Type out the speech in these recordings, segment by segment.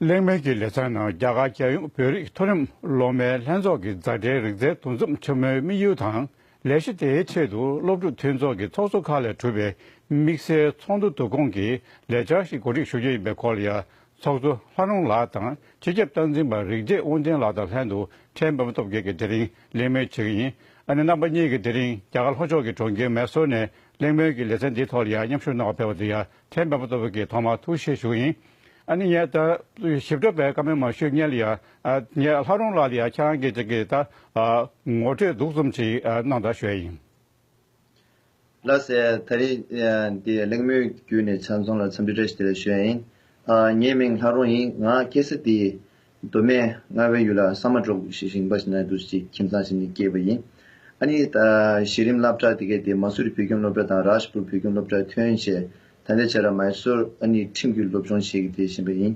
གླེང་མོལ་གྱི་ལས་ཚན་ནང་རྒྱ་གར་རྒྱལ་ཡོངས་བོད་རིགས་མཐོ་རིམ་སློབ་མའི་ལྷན་ཚོགས་ཀྱི་མཛའ་འབྲེལ་རིག་རྩལ་འདུ་འཛོམས་ཆེན་མོའི་དམིགས་ཡུལ་དང་ལས་གཞི་དེའི་ཆེད་དུ་སློབ་ཕྲུག་མཐུན་ཚོགས་ཀྱི་ཚོགས་གཙོ་ཁག་ལས་གྲུབ་པའི་དམིགས་བསལ་ཚོགས་འདུ་བསྡུ་སྐོང་གི་ལས་འཆར་ཞིག་གོ་སྒྲིག་ཞུ་རྒྱུ་ཡིན་པའི་སྐོར་ལ་ཡང་ཚོགས་གཙོ་ལྷ་རོང་ལགས་དང་སྤྱི་ཁྱབ་སྟངས་འཛིན་པ་རིག་རྒྱས་དབང་ཆེན་ལགས་དང་ལྷན་དུ་ཁྲལ་འབབ་སྟོབས་རྒྱལ་གྱིས་དེ་རིང་གླེང་མོལ་བྱེད་ཀྱི་ཡིན། ཨ་ནེ་རྣམ་པ་གཉིས་ཀྱིས་དེ་རིང་རྒྱ་གར་ལྷོ་ཕྱོགས་ཀྱི་གྲོང་ཁྱེར་མེ་སོར་ནས་གླེང་མོལ་གྱི་ལེ་ཚན་འདིའི་ཐོག་ལ་ཡང་མཉམ་ཞུགས་གནང་བར་ཕེབས་པ་དེ་ཡང་ཁྲལ་འབབ་སྟོབས་རྒྱལ་གྱིས་ཐོག་མར་ཐུགས་བཞེས་ཞུ་ཡིན། ཨ་ནེ་ངས་ད་ཞིབ་ཕྲ་བའི་བཀའ་མོལ་མ་ཞུས་ཉན་ལ་ཡང་ངས་ལྷ་རོང་ལགས་ལ་ཡང་ཁྱེད་རང་གིས་ཅིག་གིས་ད་ངོ་སྤྲོད་སྡུག་རྩུམ་ཅིག་གནང་དང་ཞུས་ཡིན། ལ་ཟེར། ད་རེས་འདི་གླེང་མོལ་བརྒྱུད་ནས་ཆ་མཚུངས་ལ་འཚམས་འདྲི་བཀྲ་ཤིས་བདེ་ལེགས་ཞུ་ཡ་ཡིན། ངའི་མིང་ལྷ་རོང་ཡིན། ང་ཀེ་སི་ཏིའི་མདོ་སྨད་རྔ་བའི་ཡུལ་ལ་ས་མ་འབྲོག་གི་ཞིང་པ་ཞིག་ན་དུ་ཞིག་ཁྱིམ་ཚང་ཞིག་ནས་སྐྱེས་པ་ཡིན། ཨ་ནི་གཞི་རིམ་སླབ་གྲྭ་དེ་གའི་དེ་མ་སུ་རི་བོད་ཁྱིམ་སློབ་གྲྭ་དང་རཱ་ཞི་པུར་བོད་ཁྱིམ་སློབ་གྲྭའི་ཐོན་བྱེད་ཐ་དད་བྱས་ར་མཱེ་སུར་ཨ་ནི་ཁྲིམས་བརྒྱུད་སློབ་སྦྱོང་བྱེད་ཀྱི་བསྡད་བཞིན་པ་ཡིན།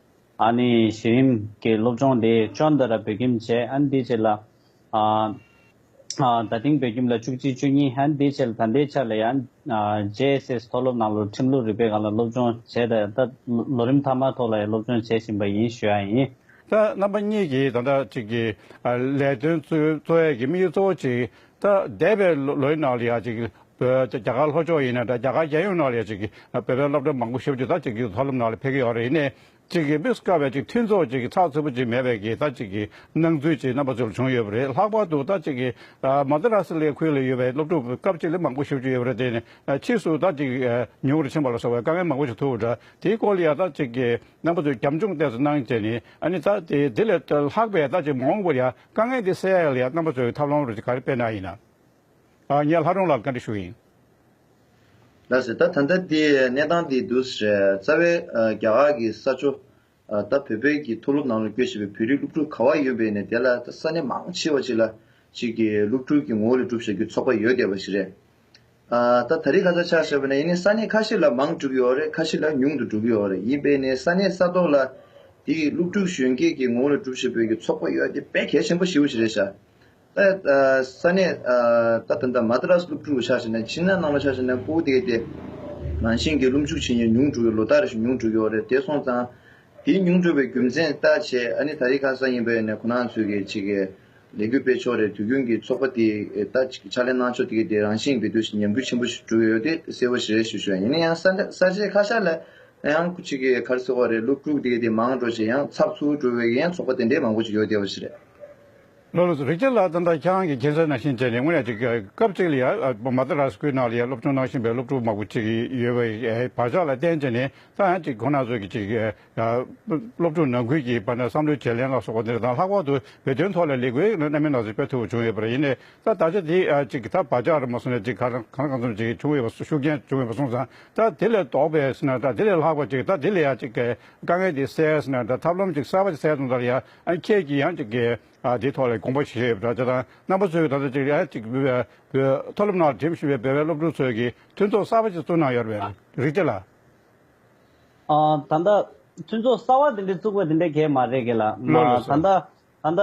ཨ་ནི་གཞི་རིམ་གྱི་སློབ་སྦྱོང་དེ་ཅོ་འདི་ར་བོད་ཁྱིམ་བཅས་ཨན་དེའི་ཆེད་ལ། ད་ཐེངས་བོད་ཁྱིམ་ལ་བཅུ་གཅིག་བཅུ་གཉིས་ཨན་དེའི་ཆེད་ལ་ད་ལྟའི་ཆར་ལ་ཡང། JSS མཐོ་སློབ་ནང་ལོ་ཁྲིམས་ལུགས་རིག་པའི་སྒང་ལ་སློབ་སྦྱོང་བྱས་ད་ལྟ་ལོ་རིམ་མཐའ་མར་ཐོག་ལ་ཡང་སློབ་སྦྱོང་བྱེད་བཞིན་པ་ཡིན་ཞུ་ཡ་ཡིན། རྣམ་པ་གཉིས་ཀྱིས་ད་ལྟ་གཅིག་གི་ལས་དོན་གཙོ་བོའི་གི་དམིགས་ཡུལ་གཙོ་བོ་གཅིག་ད་འདས་པའི་ལོའི་ནང་ལ་ཡང་ཅིག་བོད་རྒྱ་གར་ལྷོ་ཕྱོགས་ཡིན་ན་འདྲ་རྒྱ་གར་རྒྱལ་ཡོངས་ནང་ལ་ཡང་ཅིག་བོད་པའི་སློབ་གྲྭ་མང་པོ་ཞིབ་ཅིག་ད་ཅིག་གིས་མཐོ་སློབ་ནང་ལ་ཕེབས་ཀྱི་ཡོད་རེད་ནས་ཅིག་གིས་དམིགས་སུ་བཀར་བའི་ཅིག་མཐུན་ཚོགས་ཅིག་གིས་ཚགས་ཚུད་པོ་ཅིག་མེད་པའི་གིས་ད་ཅིག་གིས་སྣང་ཚུལ་ཅིག་རྣམ་པ་ཚོར་བྱུང་ཡོད་པ་རེད་ལྷག་པར་དུ་ད་ཅིག་གིས་མ་ད་ར་སི་ལའི་ཁུལ་ལ་ཡོད་པའི་སློབ་ཕྲུག་སྐབས་ཅིག་ལས་མང་པོ་ཞིབ་ཅིག་ཡོད་པ་རེད་དེ་ནས་ཕྱིས་སུ་ད་ཅིག་ཉུང་རུ་ཕྱིན་པ་ལ་སོགས་པའི་དཀའ་ངལ་མང་པོ་ཞིག་ཐུག་པ་འདྲ་དེའི་སྐོར་ལ་ཡང་ད་ཅིག་གིས་རྣམ་པ་ཚོས་རྒྱབ་ལྗོངས་བལྟས་སུ་སྣང་བྱས་ནས་ཨ་ནི་ད་དེ་ལས་ལྷག་པའི་ད་ཅིག་མ་འོངས་པར་ཡང་དཀའ་ངལ་འདི་སེལ་ཡག་ལ་ཡང་རྣམ་པ་གཙོ་བའི་ཐབས་ལམ་རོགས་ཀྱི་ག་རེ་སྤེལ་ན་ཡིན། ངས་ལྷ་སྒྲོན་ལགས་ལ་བཀའ་འདྲི་ཞུ་ཡིན། ལགས་སོ་ད་ད་ལྟ་དེ་གནས་སྟངས་དེ་འདུག་ཟེར། རྩ་བའི་རྒྱ་གར་གྱི་ས་ཆོ། ད་བོད་པའི་གྱི་མཐོ་སློབ་ནང་ལ་སྐྱོད་བྱེད་པའི་བོད་རིགས་སློབ་ཕྲུག་ག་བ་ཡོད་པའི་ནས་དེ་ལ་ད་ས་གནས་མང་ཆེ་བ་ཅིག་ལ་ཅིག་གི་སློབ་ཕྲུག་གི་ངོ་བོ་ལས་སྒྲུབ་བྱ་རྒྱུ་ཚོགས་པ་ཡོད་བསྡད་པ་ཞིག་རེད། ད་ད་རི་ཁ་ས་ཆགས་ཞེས་པ་ནས་ཡིན་ནས་ས་གནས་ཁ་ཤི་ལ་མང་འགྲུབ་ཡོའོ་རེད་ཁ་ཤི་ལ་ཉུང་དུ་འགྲུབ་ཡོའོ་རེད་ཡིན་པས་ནས་ས་གནས་ས་ཐོག་ལ་དེ་ཡི་སློབ་ཕྲུག་གཞོན་སྐྱེས་ཀྱི་ངོ་བོ་ལ་འགྲུབ་བཞིན་པའི་གི་ཚོགས་པ་ཡོའོ་དེ་དཔེ་གལ་ཆེན་པོ་ཞིག་བོ་ཞིག་རེད་ཤག་ད་ས་གནས་ད་ད་ད་མ་ད་ར་སློབ་ཕྲུག་ལ་ཆགས་ཞེས་ནས་ཕྱི་ནང་ནང་ལ་ཆགས་ཞེས་ནས་ཀོའུ་ཏེ་ཏེ་རང་བཞིན་གྱི་སློབ་འཇུག་བྱེད་མྱི་ཉུང་འགྲུབ་ཡོའོ་ལོ་ད་རེ་ཞིག་ཉུང་འགྲུབ་ཡོའོ་རེད་དེ་སོང་ཙང་དེ་ཉུང་འགྲུབ་པའི་རྒྱུ་མཚན་ལྟ་བྱེད་ཨ་ནི་ད་རི་ཁ་ས་ཡིན་པས་ནས་ཁོ་ནང་ཚོས་གི་ཅིག་གི། ལས་འགུལ་སྤེལ་ཕྱོགས་རེར་དུས་རྒྱུན་གྱི་ཚོགས་པ་དེས་ལྟ་ཅི་ཕྱག་ལེན་གནང་ཕྱོགས་དེ་གའི་རང་བཞིན་གྱི་འབྲེལ་མཐུད་ཉམས་རྒུད་ཆེན་པོ་ཞིག་གྲུབ་ཡོད་དེ་གསལ་བོ་ཞེས་ཞུ་ཞུ་ཡིན་ན་ཡང་ས་གཞི་ཁ་ཤར་ལ་ཡང་ཁུ་ཅིག་གིས་གར་ཟེར་བ་རེད་སློབ་ཕྲུག་དེ་གའི་དེ་མང་འགྲོ་ཞེས་ཡང་ཚགས་ཚུལ་གྲུབ་ཡོད་ཀྱི་ཡང་ཚོགས་པ་དེ་འདྲའི་མང་པོ་ཞིག་ཡོད་དེ་བ་ཞིག་རེད། ལོ་ལོ་རིག་ཆེན་ལགས་ད་ལྟ་ཁྱེད་རང་གི་གཅན་ས་ན་ཤིང་བྱས་ནས་དངོས་གནས་ཀྱི་སྐབས་གཅིག་ལ་ཡང་མ་ད་ར་སྐུལ་ནང་ལ་ཡང་སློབ་སྦྱོང་གནང་བཞིན་པའི་སློབ་ཕྲུག་མང་པོ་ཅིག་ཡོད་པའི་བག་ཆགས་ལ་བརྟེན་བྱས་ནས་ད་ཡང་ཅིག་ཁོ་ན་ཚོས་ཀྱི་ཅིག་སློབ་ཕྲུག་ནང་ཁུལ་གྱི་བར་ན་བསམ་བློའི་བརྗེ་ལེན་ལ་སོགས་པ་དེ་དང་ལྷག་པར་དུ་བོད་དོན་ཐོག་ལ་ལས་འགུལ་རྣམ་སྨིན་སྣ་ཚོགས་སྤེལ་ཐུབ་པ་བྱུང་ཡོད་པ་རེད་ཡིན་ནའི་ད་ད་ཆ་དེ་ཅིག་གི་ད་བར་ཆ་ར་མ་སོང་ནས་ཅིག་ག་རང་གང་ཙམ་ཅིག་བྱུང་ཡོད་པ་ཤུགས་རྐྱེན་བྱུང་ཡོད་པ་སོང་ཙང་ད་དེ་ལས་ལྡོག་པའི་ཟེར་ན་ད་དེ་ལས་ལྷག་པ་ཅིག་ད་དེ་ལས་ཡང་ཅིག་གི་དཀའ་ངལ་དེ་སེལ་ཟེར་ན་ད་ཐབས་ལམ་ཅིག་གསར་པ་ཅིག་སེལ་ཙང་ད་ཡང་ཁྱེད་ཀྱིས་ཡང་ཅིག་གི་དེའི་ཐོག་ལ་དགོངས་པ་བཞེས་ཡོད་པ་འདྲ་ཅེ་དང་རྣམ་པ་ཚོས་ད་ལྟ་ཅིག་ཡང་ཅིག་བོད་མཐོ་སློབ་ནང་ལ་འགྲིམ་བཞིན་པའི་བོད་པའི་སློབ་ཕྲུག་ཚོས་ཀྱི་མཐུན་ཚོགས་གསར་པ་ཅིག་བཙུགས་གནང་ཡོད་པའི་རིགས་དེ་ལ། ད་ལྟ་མཐུན་ཚོགས་གསར་བ་དེ་འདྲ་བཙུགས་པ་དེ་འདྲ་གལ་མ་རེད་གི་ལ། ད་ལྟ་ད་ལྟ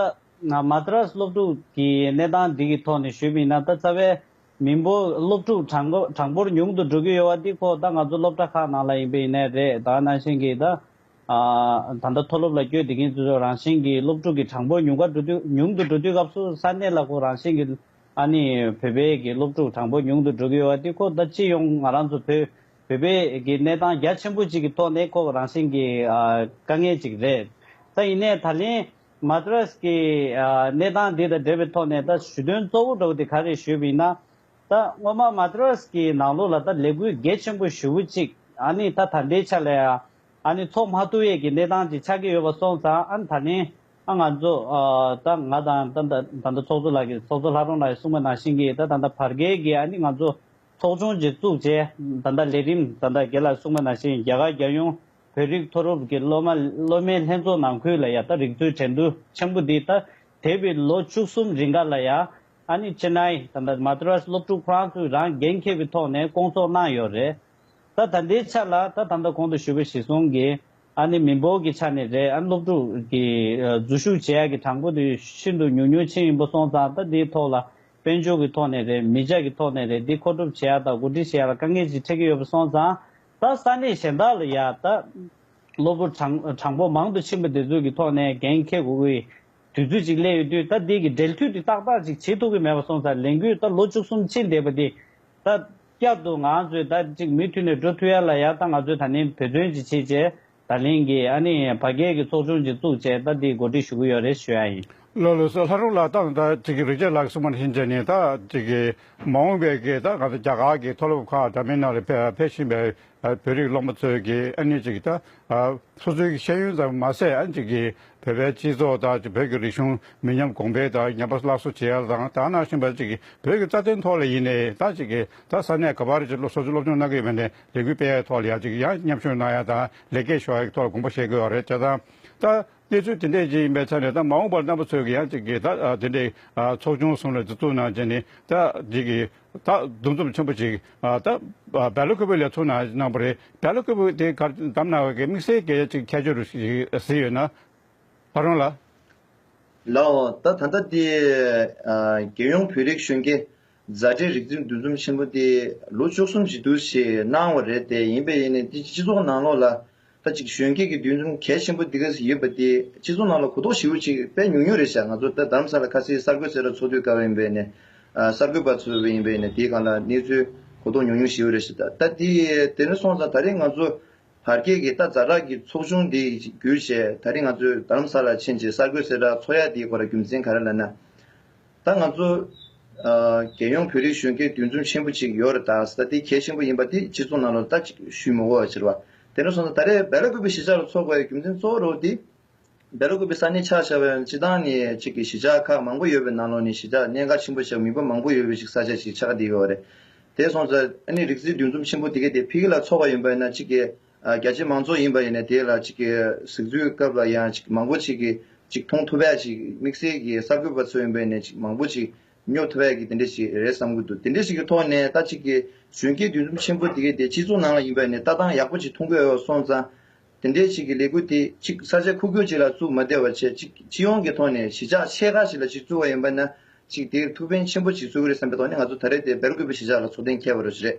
Madras སློབ་ཕྲུག་གི་གནས་སྟངས་འདི་གི་ཐོག་ནས་ཞུས་མིན་ན་ད་རྩ་བའི་མི་འབོར་སློབ་ཕྲུག་གྲངས་འབོར་ཉུང་དུ་འགྲོ་གི་ཡོད་བ་འདི་ཁོག་ད་ང་ཚོ་སློབ་གྲྭ་ཁག་ནང་ལ་ཡིན་པའི་ཡིན་ནའི་རེད་ད་ནང་བཞིན་གི་ད་ད་ལྟ་མཐོ་སློབ་ལ་བསྐྱོད་དེ་གིན་ཚུལ་ཚོ་རང་བཞིན་གི་སློབ་ཕྲུག་གི་གྲངས་འབོར་ཉུང་ཁ་འགྲོ་དུས་ཉུང་དུ་འགྲོ་དུས་སྐབས་སུ་ས་གནས་ལ་ཁོ་རང་བཞིན་གི་ཨ་ནི་བོད་པའི་གི་སློབ་ཕྲུག་གྲངས་འབོར་ཉུང་དུ་འགྲོ་གི་ཡོད་བ་འདི་ཁོག་ད་སྤྱི་ཡོངས་ང་རང་ཚོ་བོད་བོད་པའི་གནས་སྟངས་རྒྱ་ཆེན་པོ་གཅིག་གི་ཐོག་ནས་ཁོ་རང་བཞིན་གྱི་དཀའ་ངལ་གཅིག་རེད། ད་ཡིན་ནའི་ད་ལན Madras གི་གནས་སྟངས་འདི་དང་འབྲེལ་བའི་ཐོག་ནས་ད་ཞུ་དོན་གཙོ་བོ་འགྲོ་དེ་ག་རེད་ཞུས་པ་ཡིན་ན། ད་སྔོན་མ Madras གི་ནང་ལོགས་ལ་ད་ལས་འགུལ་གལ་ཆེན་པོ་ཞུ་བུ་གཅིག་ཨ་ནི་ད་ད་ལྟའི་ཆ་ལ་ཡང་ཨ་ནི་ཚོགས་མ་ཐུ་ཡས་ཀྱི་གནས་སྟངས་གཅིག་ཆགས་ཀྱི་ཡོད་པ་སོང་ཙང་ཨ་ནི་ད་ལན་ཨ་ང་ཚོ་ད་ང་དང་ད་ད་ད་ད་ཚོགས་གཙོ་ལགས་ཀྱི་ཚོགས་གཙོ་ལྷ་རོང་ལགས་ཀྱི་གསུངས་པ་ནང་བཞིན་གྱི་ད་ད་ད་བར་བརྒལ་གྱི་ཨ་ནི་ང་ཚོ་ཚོགས་ཆུང་གཅིག་བཙུགས་རྗེས་ད་ལྟ་ལས་རིམ་ད་ལྟ་དགེ་ལ་སྲུང་མ་ནང་བཞིན་རྒྱ་གར་རྒྱལ་ཡོངས་བོད་རིགས་མཐོ་རུབ་ཀྱི་སློབ་མ་སློབ་མའི་ལྷན་ཚོགས་ནང་ཁུལ་ལ་ཡང་ད་རིག་ཚུལ་དྲན་བསྡུ་ཆེན་པོ་འདི་ད་དེ་བས་ལོ་བཅུ་གསུམ་རིང་ག་ལ་ཡང་ཨ་ནི་ཅེ་ནའི་ད་ད Madras སློབ་ཕྲུག་ཁོ་རང་ཚོས་རང་འགན་ཁྱེར་བའི་ཐོག་ནས་སྐོང་ཚོགས་གནང་ཡོད་རེད་ད་ད་འདིའི་ཆ་ལ་ད་ད་ད་གོང་དུ་ཞུས་པ་བཞིན་སོང་གི་ཨ་ནི་མི་འབོར་གྱི་ཆ་ནས་རེད་ཨ་ནི་སློབ་ཕྲུག་གི་འཛུལ་ཞུགས་བྱེད་ཡག་གི་གྲངས་འབོར་དུས་ཤིན་ཏུ་ཉུང་ཉུང་ཆེན་ཡིན་པོ་སོང་ཙང་ད་འདིའི་ཐོག་ལ་དཔལ་འབྱོར་གྱི་ཐོག་ནས་རེད་མི་ཇག་གི་ཐོག་ནས་རེད་འདི་མཁོ་སྒྲུབ་བྱེད་ཡག་དང་གོ་སྒྲིག་བྱེད་ཡག་ལ་དཀའ་ངལ་ཅིག་འཕྲད་ཀྱི་ཡོད་པ་སོང་ཙང་ད་ས་གནས་གཞན་དག་ལ་ཡག་ད། གློ་བུར་གྲངས་འབོར་མང་དུ་ཕྱིན་པ་དེ་ཚོའི་གི་ཐོག་ནས་འགན་འཁེལ་དགོས་ཀྱི་དུས་ཚོད་ཅིག་སླེབས་ཡོད་དུས་ད་འདི་གི་འབྲེལ་མཐུད་དུས་ཏག་ཏག་ཅིག་བྱེད་ཐུབ་ཀྱི་མེད་པ་སོང་ཙང་ལས་འགུལ་ད་ལོ་བཅུ་གསུམ་ཕྱིན་བསྡད་པ་འདི་ད། བསྐྱར་དུ་ང་ཚོས་ད་ཅིག་མུ་མཐུད་ནས་འགྲོ་ཐུབ་ཡག་ལ་ཡག་ད་ང་ཚོས་ད་ནི་བོད་དོན་ཅིག་བྱེད་ཅེས་ད་ལན་གྱི་ཨ་ནེ་ཡང་ཕ་སྐད་ཀྱི་ཚོགས་ཆུང་གཅིག་བཙུགས་རྗེས་ད་ལྟའི་གོ་སྒྲིག་ཞུ་གི་ཡོད་རེད་ཞུ་ཡ་ཡིན། ལོ་ལོ་སོ་ལྷ་རུང་ལགས་ད་ལྟ་ཅིག་གི་རི་རྒྱལ་ལགས་སུ་མར་ཧིན་ཇཱི་ནི་ད་ཅིག་གི་མ་འོངས་པའི་སྐད་ད་ག་ཚོད་རྒྱ་གར་གྱི་མཐོ་སློབ་ཁག་འདྲ་མིན་ནང་ལ་ཕེབས་བཞིན་པའི་བོད་རིགས་སློབ་མ་ཚོས་ཀྱི་ཨ་ནེ་ཅིག་ད་སོ་སོའི་ཤེས་ཡོན་ཙམ་མ་ཟད་ཨ་ཅིག་གི་བོད་པའི་སྤྱི་ཚོགས་ད་ཅིག་བོད་ཀྱི་རིག་གཞུང་མི་ཉམས་གོང་འཕེལ་ད་ཉམས་པ་སླར་གསོ་བྱེད་ཡ་ལ་དང་ད་གནང་བཞིན་པ་ཅིག་གི་བོད་ཀྱི་རྩ་དོན་ཐོག་ལ་ཡིན་ནའི་ད་ཅིག་གི་ད་ས་གནས་ག་པར་ཅིག་སོ་སོའི་སློབ་སྦྱོང་གནང་གི་ཡོད་པ་ནི་ལས་འགུལ་སྤེལ་ཡག་ཐོག་ལ་ཡ་གཅིག་ཡ་མཉམ་ཞུགས་གནང་ཡག་དང་ལས་ཀའི་ཞོར་ཡག་ཐོག་ལ་དགོངས་པ་བཞེས་དགོས་པ་རེད་ཅེས་དང། ད་གནས་ཚུལ་དེ་འདྲས་ཅིག་ཡིན་པའི་ཆ་ནས་ད་མ་འོངས་པར་རྣམ་པ་ཚོས་ཀྱི་ཡ་གཅིག་གིས་ད་དེ་འདྲའི་ཚོགས་ཆུང་གསུམ་ལ་འཛུལ་བཙུགས་གནང་རྗེས་ནས་ད་འདི་གི་ད་འདུ་འཛོམས་ཆེན་པོ་ཅིག་ད་བལ་ལོ་ཁོ་བོའི་ལས་ཚོགས་ནང་གནང་པ་རེད་བལ་ལོ་ཁོ་བོས་དེ་གར་བདམས་གནང་བའི་དམིགས་བསལ་གྱི་ཡ་གཅིག་ཁྱད་ཆོས་རུ་ཞིག་ཟིན་ཡོད་ན་ད་རུང་ལ། ལའོ། ད་ད་ལྟ་འདི་རྒྱལ་ཡོངས་བོད་རིགས་གཞོན་སྐྱེས། མཛའ་འབྲེལ་རིག་འཛིན་འདུ་འཛོམས་ཆེན་པོ་འདི་ལོ་བཅུ་གསུམ་བཞི་བསྡུར་ཞིག་གནང་བ་རེད་དེ་ཡིན་པས་ཡིན་ནས་འདི་སྤྱི་ཚོགས་ནང་ལོགས་ལ་ད་ཅིག་གཞོན་སྐྱེས་ཀྱི་འདུ་འཛོམས་གལ་ཆེན་པོ་འདི་ག་ཟིག་ཡོད་པ་འདི་སྤྱི་ཚོགས་ནང་ལ་གོ་རྟོགས་ཞིབ་བོ་ཅིག་སྤེལ་ཉུང་ཉུང་རེད་བྱ་ང་ཚོ་ད་དར་མ་ས་ལ་ཁ་སིའི་གསར་འགོད་ཚེ་རབས་ཚོགས་དུས་སྐབས་ཡིན་པས་ནས་གསར་འགོད་པ་ཚོ་ཡིན་པས་ནས་དེའི་གང་ལ་གནས་ཚུལ་གོ་རྟོགས་ཉུང་ཉུང་ཞིབ་བོ་རེད་བྱེད་ད་དེ་དེ་ནས་སོང་ཙང་ད་རིང་ང་ཚོ་བར་སྐྱེས་ཀྱི་ད་མཛའ་གྲགས་ཀྱི་ཚོགས་ཆུང་འདི་བརྒྱུད་བྱས་ད་རིང་ང་ཚོས་དར་མ་ས་ལ་ཕྱིན་ཅིག་གསར་འགོད་ཚེ་རབས་ཚོགས་ཡག་འདིའི་སྐོར་ལ་རྒྱུ་མཚན་ག་རེ་ལ་ན། ད་ང་ཚོ། རྒྱལ་ཡོངས་བོད་རིགས་གཞོན་སྐྱེས་འདུས་འཛོམས་ཆེན་པོ་ཅིག་ཡོད་རེད་ད། ས་དེ་གལ་ཆེན་པོ་ཡིན་པ་དེ་སྤྱི་ཚོགས་ནང་ལ་ལྟ་ཅིག་ཞུས་མི་འོས་ཟེར་བ། དེ་ནས་བཟུང་སྟེ་ད་རེས་འབེ་ལ་ཀུ་བི་གཞིས་ཆགས་ལ་འཚོགས་པའི་རྒྱུ་མཚན་གཙོ་བོ་རུ་དེ། འབེ་ལ་ཀུ་བི་ས་གནས་ཆགས་ཆགས་བའི་སྤྱི་ཐང་ནི་གཅིག་གི་གཞིས་ཆགས་ཁག་མང་པོ་ཡོད་པའི་ནང་ལོགས་ནས་གཞིས་ཆགས་གནད་འགག་ཆེན་པོ་ཆགས་མི་འབོར་མང་པོ་ཡོད་པའི་ཞིག་ས་ཆ་ཞིག་ཆགས་བསྡད་ཡོད་རེད། དེ་སོང་ཙང་ཨ་ནི་རིག་རྩིས་འདུས་འཛོམས་ཆེན་པོ་དེ་གའི་དེ་བྷི་གི་ལ་འཚོགས་པ་ཡིན་པ་ཡིན་ན་གཅིག་གི། རྒྱ་ཆེའི་མང་ཚོགས་ཡིན་པ་ཡིན་ནས་དེ་ལ་གཟིགས་ཚུལ་སྐབས་ལ་ཡང་མང་པོ་ཞིག་གིས་མཐོང་ཐུབ་པས་དམིགས་བསལ་གྱིས་གསར་འགོད་པ་ཚོ་ཡིན་པ་ཡིན་ནས་མང་པོ་ཞིག་ཉོབ་ཐུབ་པས་དེ་འདྲ་ཞིག་རེད་བསམ་གྱི་འདུག་དེ་འདྲ་ཞིག་གི་ཐོག་ནས་ལྟ་ཅི་དགོས་གཞོན་སྐྱེས་འདུས་འཛོམས་ཆེན་པོ་དེ་གའི་དེ་སྤྱི་ཚོགས་ནང་ལ་ཡིན་པ་ཡིན་ནས་ལྟ་སྟངས་ཡག་པོ་ཞིག་མཐོང་གི་འོས་སོང་ཙང་དེ་འདྲ་ཞིག་གི་ལས་འགུལ་དེ་གཅིག་ས་ཆ་ཁུག་ཀྱོག་ཅིག་ལ་བཙུགས་མ་བསྡད་པར་ཆེས་སྤྱི་ཡོངས་ཀྱི་ཐོག་ནས་གཞིས་ཆགས་ཆེ་ཁག་ཞིག་ལ་ཞིག་བཙུགས་པ་ཡིན་པ་ན་ཅིག་དེར་ཐུགས་ཕན་ཆེན་པོ་ཞིག་བཟོས་གི་རེད་བསམ་པའི་ཐོག་ནས་ང་ཚོ་ད་རེས་དེ་སྦེལ་ཀོབ་ཀྱི་གཞིས་ཆགས་ལ་ཚོགས་ཐེངས་ཁྱད་པར་བ་ཞིག་རེད་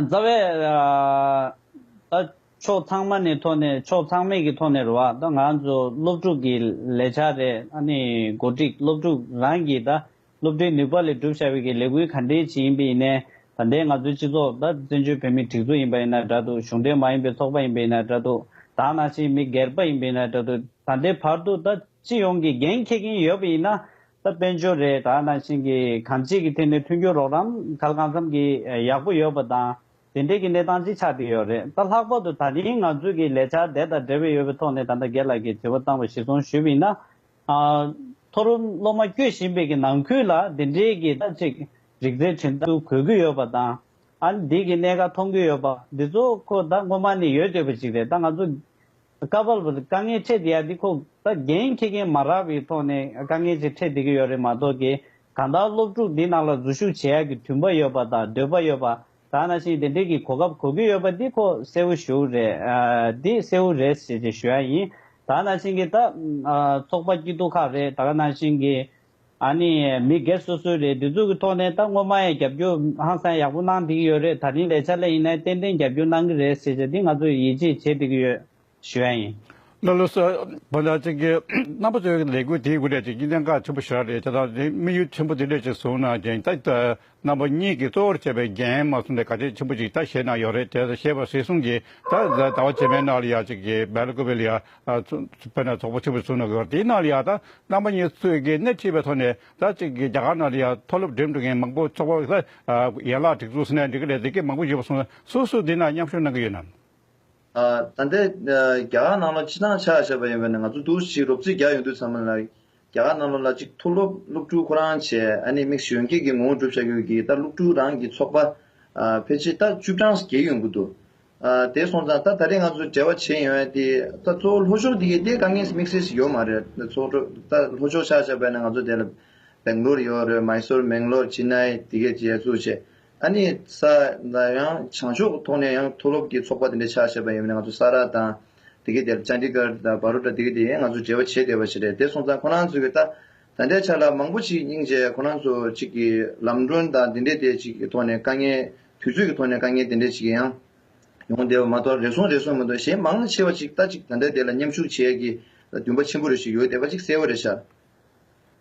རྩ་བའི། ད། ཕྱོགས་ཚང་མ་ནས་ཐོག་ནས་ཕྱོགས་ཚང་མས་ཀྱི་ཐོག་ནས་རེད་བ། ད་ང་ཚོ་སློབ་ཕྲུག་གི་ལས་འཆར་རེད་ཨ་ནི་གོ་སྒྲིག་སློབ་ཕྲུག་རང་གི་ད་སློབ་གྲྭའི་ནུས་པ་ལས་སྒྲུབ་བྱ་བའི་ཀྱི་ལས་འགུལ་ག་འདྲའི་བྱེད་ཡིན་པའི་ཡིན་ནའི་ད་ལྟའི་ང་ཚོའི་སྤྱི་ཚོགས་ད་བཙན་བྱོལ་བོད་མིའི་སྒྲིག་འཛུགས་ཡིན་པ་ཡིན་ན་འདྲ་འདུག་གཞུང་འབྲེལ་མ་ཡིན་པའི་ཚོགས་པ་ཡིན་པ་ཡིན་ན་འདྲ་འདུག་ད་ནང་བཞིན་མི་སྒེར་པ་ཡིན་པ་ཡིན་ན་འདྲ་འདུག་ད་ལྟའི་བར་དུ་ད་སྤྱི་ཡོངས་ཀྱི་འགན་འཁྱེར་གྱིན་ཡོད་པ་ཡིན་ན་ད་དཔལ་འབྱོར་རེས་གྲགས་ནང་བཞིན་གྱི་གམ་གཅིག་གི་ཐད་ནས་མཐུན་འགྱུར་རོགས་རམ་གལ་གང་འཚམ་གྱིས་ཡག་པོ་ཡོད་པ་དང་དེ་འབྲེལ་གྱི་གནས་སྟངས་ཅིག་ཆགས་བསྡད་ཡོད་རེད་ད་ལྷག་པར་དུ་ད་རིང་ང་ཚོས་ཀྱི་ལས་འཆར་དེ་དང་འབྲེལ་བའི་ཡོད་པའི་ཐོག་ནས་ད་ལྟ་སྒེར་ལགས་ཀྱིས་དྲི་བ་བཏང་བ་གཞིར་བཟུང་ཞུས་པ་ཡིན་ན། མཐོ་རུ་སློབ་མ་སྐྱོད་བཞིན་པའི་གི་ནང་ཁུལ་ལ་དེ་འབྲེལ་གྱི་ཐབས་ཅིག་རིག་རྩལ་འཕྲིན་ཐུང་གོ་གི་ཡོད་པ་དང། འདིའི་གི་གནད་འགག་མཐོང་གི་ཡོད་པ་འདི་ཚོ་ཁོ་ད་སྔོན་མ་ནས་ཡོད་སྡོད་པ་ཅིག་རེད་ད་ང་ཚོ། བཀའ་བབས་པ་དཀའ་ངལ་འཕྲད་བསྡད་ཡ་འདི་ཁོ་ད་རྒན་ཁྱི་རྒན་མ་རག་པའི་ཐོག་ནས་དཀའ་ངལ་ཅིག་འཕྲད་བསྡད་ཀྱི་ཡོད་རེད་མ་གཏོགས་ཀྱི་གང་དག་སློབ་ཕྲུག་འདི་རྣམས་ལ་འཛུལ་ཞུགས་བྱེད་ཡག་གི་དུས་འབའ་ཡོད་པ་དང་འདོད་པ་ཡོད་པ་དག་ན་ཞིང་དེ་འདྲིའི་གི་གོ་སྐབས་གོ་གི་ཡོད་པ་འདི་ཁོ་གསལ་བོ་ཞུ་རེད་འདི་གསལ་བོ་རེད་ཟེར་གྱི་ཞུ་ཡ་ཡིན་དག་ན་ཞིང་གི་ད་ཚོགས་པ་སྐྱིད་སྡུག་ཁག་རེད་དག་ན་ཞིང་གི་ཨ་ནི་མི་སྒེར་སོ་སོའི་རེད་འདི་ཚོ་གི་ཐོག་ནས་ད་སྔོན་མ་ཡང་རྒྱབ་སྐྱོར་ཧང་སང་ཡག་པོ་གནང་བསྡད་ཀྱི་ཡོད་རེད་ད་རིང་ལས་འཆར་ལས་ཡིན་ནའི་ཏན་ཏན་རྒྱབ་སྐྱོར་གནང་གི་རེད་ཟེར་བྱས་འདི་ང་ཚོ་ཡིད་ཆེས་བྱེད་བསྡད་ཀྱི་ཡོད་ཞུ་ཡ་ཡིན། ལོ་ལོ་སོ་བོ་ལ་ཅིག་གི་རྣམ་པ་ཚོའི་ལས་འགུལ་དེའི་དགུ་ལས་ཅིག་གི་གནད་འགག་ཆེན་པོ་ཞིག་རེད་ཅེས་དང་དེའི་དམིགས་ཡུལ་ཆེན་པོ་དེ་འདྲ་ཞིག་བཟུང་ན་རྒྱན་ལྟ་རྣམ་པ་གཉིས་ཀྱི་གཙོ་བོར་བྱས་པའི་རྒྱན་མ་གསུམ་ལས་ག་ཅེས་ཆེན་པོ་ཅིག་ད་ཞེས་ན་ཡོད་རེད་དེ་ད་ཞེས་པ་སྲིད་གསུམ་གྱིས་ད་གཟའ་ཟླ་བ་བྱེ་མའི་སྣག་ལ་ཡ་ཅིག་གིས་སྦལ་བཀོད་པའི་ལི་ཡ། བོད་ན་ཚོགས་པ་ཆེན་པོ་བཙུགས་ན་དགོས་པ་དེའི་སྣག་ལི་ཡ་དང་རྣམ་པ་གཉིས་གཙོས་ཀྱི་སྣེ་ཁྲིད་པའི་ཐོག་ནས་ད་ཅིག་གིས་རྒྱ་གར་ན་ལི་ཡ་མཐོ་སློབ་འགྲིམ་འགྲོ་མཁན་མང་པོ་ཚོགས་པ་ལ་ཡན་ལག་སྒྲིག་འཛུགས་སུ་ནས་འགྲིག་གི་རེད་ཟེར་མཁན་མང་པོ་ཡོད་པ་སོང་སུ་སུ་འདི་ན་མཉམ་ཞུགས་གནང་གི་ཡོད་ནམ། ད་ལྟའི་རྒྱ་གར་ནང་ལོ་ཆིག་ཐང་ཆགས་བཞག་པ་ཡིན་པ་ནས་ང་ཚོ་དུས་ཚོད་ཅིག་རོབ་ཚིགས་རྒྱག་ཡོང་དུས་ཚང་མ་ལ་རྒྱ་གར་གནའ་ལོ་ལ་གཅིག་མཐུ་སློབ་སློབ་ཕྲུག་ཁོ་རང་བཅས་ཨ་ནེ་མིག་གཞི་གཡོན་སྐྱེས་ཀྱི་ངོ་བོ་གྲུབ་བྱ་དགོས་ཀྱི་ལྟར་སློབ་ཕྲུག་རང་གི་ཚོགས་པ་ཕལ་ཆེར་རྟ་བཅུ་གྲངས་བརྒལ་ཡོང་གི་འདུག་དེ་སོང་ཙང་རྟ་ད་རེས་ང་ཚོ་བྲེལ་བ་ཆེ་ཡོང་ཨེ་ཏེ་རྟ་ཚོ་ལྷོ་ཕྱོགས་འདི་གའི་རྟའི་དཀའ་ངལ་དམིགས་བསལ་ཞིག་ཡོད་མ་རེད་རྟ་ཚོ་རྟ་ལྷོ་ཕྱོགས་ཆགས་ཆགས་པས་ན་ང་ཚོ་དེ་ལ Bangalore ཡོད་རེད Mysore མེང་ལོར Chennai དེ་གའི་རྗེས་བཙུགས་བྱས་ཨ་ནི་ས་ད་ཡང་བྱང་ཕྱོགས་ཐོག་ནས་ཡང་མཐོ་སློབ་ཀྱི་ཚོགས་པ་དེ་འདྲ་ཆགས་བྱས་པ་ཡིན་པས་ན་ང་ཚོ་ས་ར་དང། དེ་གའི་དེར་ཅཱ་འདི་ཀར་དང་བྷ་རུ་ཏྲ་དེ་གའི་དེ་ང་ཚོ་འབྲེལ་བ་བྱེད་བསྡད་པ་ཞིག་རེད་དེ་སོང་ཙང་ཁོ་རང་ཚོ་གིས་ད་ད་ལྟའི་ཆར་ལ་མང་པོ་ཞིག་སྙིང་རྗེ་ཁོ་རང་ཚོ་གཅིག་གིས་ལམ་གྲོན་དང་དེ་འདྲའི་དེ་ཅིག་གི་ཐོག་ནས་དཀའ་ངལ་དུས་ཚོད་ཀྱི་ཐོག་ནས་དཀའ་ངལ་དེ་འདྲའི་ཅིག་ཡང་ཡོང་བསྡད་པ་མ་གཏོགས་རེ་ཟུང་རེ་ཟུང་མི་འདུག་གཞན་མང་ཆེ་བ་ཅིག་ལྟ་ཅིག་ད་ལྟའི་དེ་ལ་མཉམ་ཞུགས་བྱེད་ཀྱི་ལ་འདུན་པ་ཆེན་པོ་རེ་ཞིག་ཡོད་བསྡད་པ་ཅིག་གསལ་བོ་རེད་ཤག་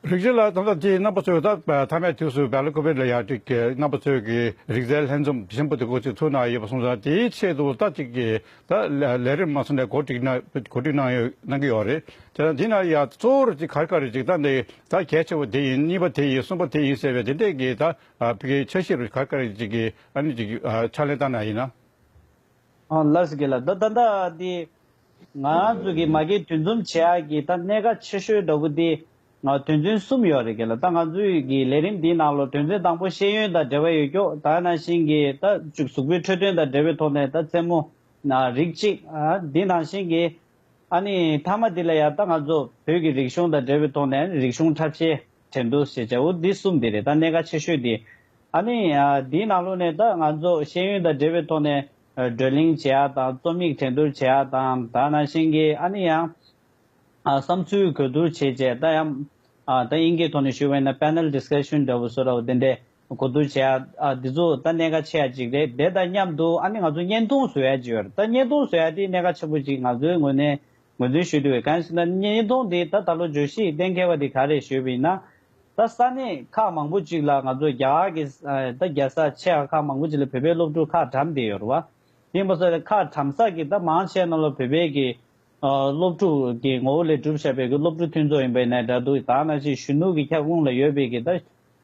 རིག་རྩལ་ལ་དོ་བདག་ཅེས་རྣམ་པ་ཚོས་ད་ལྟ་མཐའ་མའི་དུས་སུ་བལ་ལོ་ཀོ་བེད་ལ་ཡ་དྲུག་གི་རྣམ་པ་ཚོས་ཀྱི་རིག་རྩལ་ལྷན་འཛོམས་ཆེན་པོ་དེ་གོ་ཚུལ་ཚུགས་གནང་ཡོད་པ་གསུངས་སོང་དེའི་ཆེད་དུ་ལྟ་ཅིག་གིས་ད་ལས་རིམ་མ་སོང་ནས་གོ་སྒྲིག་གནང་གནང་གི་ཡོད་རེད་དེ་དང་དེ་ན་ཡང་གཙོ་བོར་གཅིག་གར་དཀར་རི་འཇིགས་སྟངས་དེ་ད་གལ་ཆེ་བོ་དེ་ཡིན་གཉིས་པ་དེ་ཡིན་གསུམ་པ་དེ་ཡིན་ཟེར་བའི་དེ་འདྲས་ཀྱི་ད་ཕིག་གི་འཆར་གཞིར་གར་དཀར་རི་འཇིགས་ཀྱི་ཨ་ནི་འཇིགས་ཕྱག་ལེན་བཏང་ན་ཡིན་ན། ལར་སི་གེ་ལ་ད་ད་འདའ་འདི། ང་ཚོ་གི་མ་གི་དུས་འཛོམས་བྱེད་ཡག་གི་ད་གནད་ཀ་ཆེ་ཤོས་འདྲ་བུ་འདི། དོན་ཚུན་གསུམ་ཡོད་རེད་གི་ལ་ད་ང་ཚོའི་གི་ལས་རིམ་འདི་ནང་ལོ་དོན་ཚུན་དང་པོ་ཤེས་ཡོན་དང་འབྲེལ་བ་ཡོད་ཀྱོག་ད་ནང་བཞིན་གི་ད་བཅུ་གཟུགས་པོའི་འཕྲོད་དོན་དང་འབྲེལ་བའི་ཐོག་ནས་ད་རྩེད་མོ། རིགས་གཅིག། འདི་ནང་བཞིན་གི། ཨ་ནི་མཐའ་མ་འདི་ལ་ཡང་ད་ང་ཚོ་བོད་གི་རིག་གཞུང་དང་འབྲེལ་བའི་ཐོག་ནས་རིག་གཞུང་འཁྲབ་བྱེད། དྲན་འདུག་ཞེས་བྱ་བོ་འདི་གསུམ་དེ་རེད་ད་གནད་ཀ་ཆེ་ཤོས་དེ། ཨ་ནི། དེའི་ནང་ལུགས་ནས་ད་ང་ཚོ་ཤེས་ཡོན་དང་འབྲེལ་བའི་ཐོག་ནས། བགྲོ་གླེང་བྱེད་ཡག་དང་རྩོམ་ཡིག་དྲན་སྡུར་བྱེད་ཡག་དང་དག་ན་ཤེས་གི་ཨ་ནི་ཡང། བསམ་ཚུལ་གོ་བསྡུར་བྱེད་ཅེས་ད་ཡང། ད་དབྱིན་སྐད་ཐོག་ནས་ཞུ་བས་ན Panel Discussion འདྲ་བོ་བཟོ་ར་བ་དེ་འདྲས་གོ་བསྡུར་བྱེད་ཡག་འདི་ཚོ་ད་གནད་ཀ་ཆེ་ཡག་ཅིག་རེད་དེ་དང་མཉམ་དུ་ཨ་ནི་ང་ཚོ་བརྙན་ཐུང་བཟོ་ཡག་ཅིག་ཡོད་རེད་ད་བརྙན་ཐུང་བཟོ་ཡག་དེ་གནད་ཀ་ཆེན་པོ་ཅིག་ང་ཚོའི་ངོས་ནས། ངོས་འཛིན་ཞུས་དུས་གངས་སྐྱིད་ན་ཉིས་སྟོང་དེ་ད་ད་ལོ་བརྗོད་གཞི་གཏན་འཁེལ་བ་དེ་ག་རེད་ཞུས་པ་ཡིན་ན། ད་ས་གནས་ཁག་མང་པོ་ཅིག་ལ་ང་ཚོ་རྒྱ་གར་གྱི་ད་རྒྱལ་ས་ཆེ་ཡང་ཁག་མང་པོ་ཅིག་ལ་བོད་པའི་སློབ་ཕྲུག་ཁག་གྲམ་བསྡད་ཡོད་རུ་བ། ཡིན་པ་སོགས་ཁག་གྲམ་ས་ཀྱི་ད་མང་ཆེ་རྣམས་ལ་བོད་པའི་གི་སློབ་ཕྲུག་གི་ངོ་བོ་ལས་གྲུབ་ཤ་བའི་གི་སློབ་ཕྲུག་མཐུན་ཚོགས་ཡིན་པ་ནས་འདྲ་འདུག་ད་ན་ཅིག་གཞོན་ནུ་གི་ཁྱབ་ཁོངས་ལ་ཡོད་པའི་གི་ད་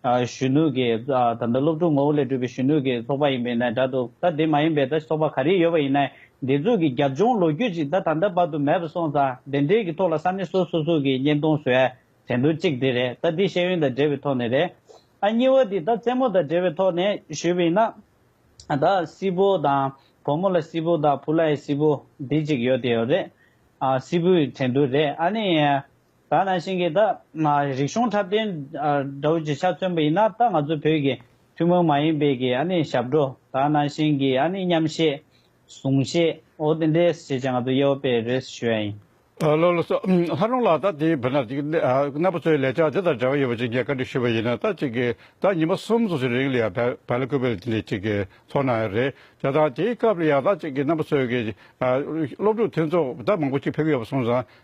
གཞོན་ནུ་གི། ད་ལྟ་སློབ་ཕྲུག་ངོ་བོ་ལས་གྲུབ་པའི་གཞོན་ནུ་གི་ཚོགས་པ་ཡིན་པའི་ན་དྲ་འདུག་ད་དེ་མ་ཡིན་པའི་ད་ཚོགས་པ་ག་རེ་ཡོད་པ་ཡིན་ན་འདི་ཚོ་གི་རྒྱབ་ལྗོངས་ལོ་རྒྱུས་ཅིག་ད་ད་ལྟ་བར་དུ་མེད་པ་སོང་ཙང་དེ་འདྲའི་གི་ཐོག་ལ་ས་གནས་སོ་སོ་སོ་གི་བརྙན་ཐུང་བཟོས་བྲན་འདུག་གཅིག་དེ་རེད་ད་དེ་ཤེས་ཡོན་དང་འབྲེལ་བའི་ཐོག་ནས་རེད། ཨ་གཉིས་བ་དེ་ད་རྩེད་མོ་དང་འབྲེལ་བའི་ཐོག་ནས་བཞོས་པ་ཡིན་ན། ད་སྲིད་པོ་དང་བུ་མོ་ལ་སྲིད་པོ་དང་བུ་ལ་ཡི་སྲིད་པོ་དེ་ཅིག་ཡོད་དེ་ཡོད་རེད། སྲིད་པོའི་བྲན་འདུག་རེད་ཨ་ནི། ད་ནང་བཞིན་གྱི་ད། རིག་གཞུང་འཁྲབ་སྟོན་དགྲ་བོ་རྗེ་ཆ་མཚོན་པ་ཡིན་ན་ད་ང་ཚོ་བོད་ཀྱི་ཐུན་མོང་མ་ཡིན་པའི་གྱི་ཨ་ནི་ཞབས་བྲོ་ད་ནང་བཞིན་གྱི་ཨ་ནི་མཉམ་བཞེས། གཟུང་བཞེས་འོ་དེ་འདྲའི་བྱས་ཅི་ང་ཚོ་གཡས་བོ་དཔེ་རེད་ཞུ་ཡ་ཡིན། བློ་ལ་སོ། ལྷ་རོང་ལགས་ད་དེའི་བུ་ན་ཅིག་གནས་པ་ཚོའི་ལས་བྱ་དེ་དང་འབྲེལ་བ་ཡོད་པ་ཅིག་ངས་བཀའ་འདྲི་ཞུ་བ་ཡིན་ན་ད་ཅིག་གི་ད་ཉིན་མ་གསུམ་སོ་སོའི་རིང་ལ་ཡང་བལ་ལ་ཁུ་བལ་འདི་ཅིག་གི་ཚོགས་ནང་ཡང་རེད་བྱ་ད་དེའི་སྐབས་ལ་ཡང་ད་ཅིག་གི་གནས་པ་ཚོའི་གྱི་སློབ་ཕྲུག་མཐུན་ཚོགས་ད་མང་པོ་ཅིག་ཕེབས་ཀྱི་ཡོད་པ་སོང་ཙང་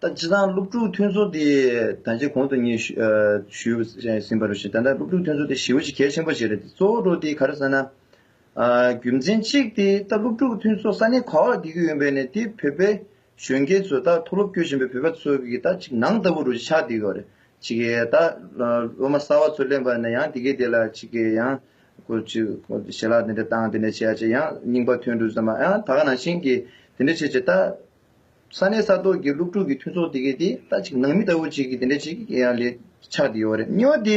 ད་ཇི་ལྟར་སློབ་ཕྲུག་མཐུན་ཚོགས་དེ་ད་ཇེ་གོང་དུ་ངས་ཞུས་ཟིན་པར་ཞེ་ད་ལྟ་སློབ་ཕྲུག་མཐུན་ཚོགས་དེ་ཞི་བ་ཞིག་གལ་ཆེན་པོ་བྱེད་རེད་དེ་གཙོ་བོ་དེ་ག་རེ་ཟེར་ན། རྒྱུ་མཚན་གཅིག་དེ་ད་སློབ་ཕྲུག་མཐུན་ཚོགས་ས་གནས་ག་བར་དགེ་རྒུ་ཡོད་པའི་ནས་དེ་བོད་པའི་གཞོན་སྐྱེས་ཚོ་ད་མཐོ་སློབ་སྐྱོད་བཞིན་པའི་བོད་པ་ཚོ་གི་ད་ཅིག་ནང་ལྟ་བུ་རུ་ཆགས་བསྡད་ཡོད་རེད་ཅིག་ད་སློབ་མ་གསར་བ་ཚོ་གླེན་པ་ན་ཡང་དེ་གས་དེ་ལ་ཅིག་ཡང། དགོས་ཀྱི། ཞལ་ལག་དེ་འདྲ་བཏང་དེ་ནས་བྱས་རྗེས་ཡང་རྙིང་པ་ཐོན་འགྲོ་ཟེར་མ་ཡང་ད་ག་ནང་བཞིན་གྱི་དེ་འདྲ་བྱས་རྗེས་ད། ས་གནས་ས་ཐོག་གི་སློབ་ཕྲུག་གི་མཐུན་ཚོགས་དེ་གའི་དེ་ད་ཅིག་ནང་མི་ལྟ་བུ་ཅིག་གིས་དེ་འདྲ་ཅིག་གི་ཡང་ལས་ཆགས་དེ་ཡོད་རེད་གཉིས་བ་དེ།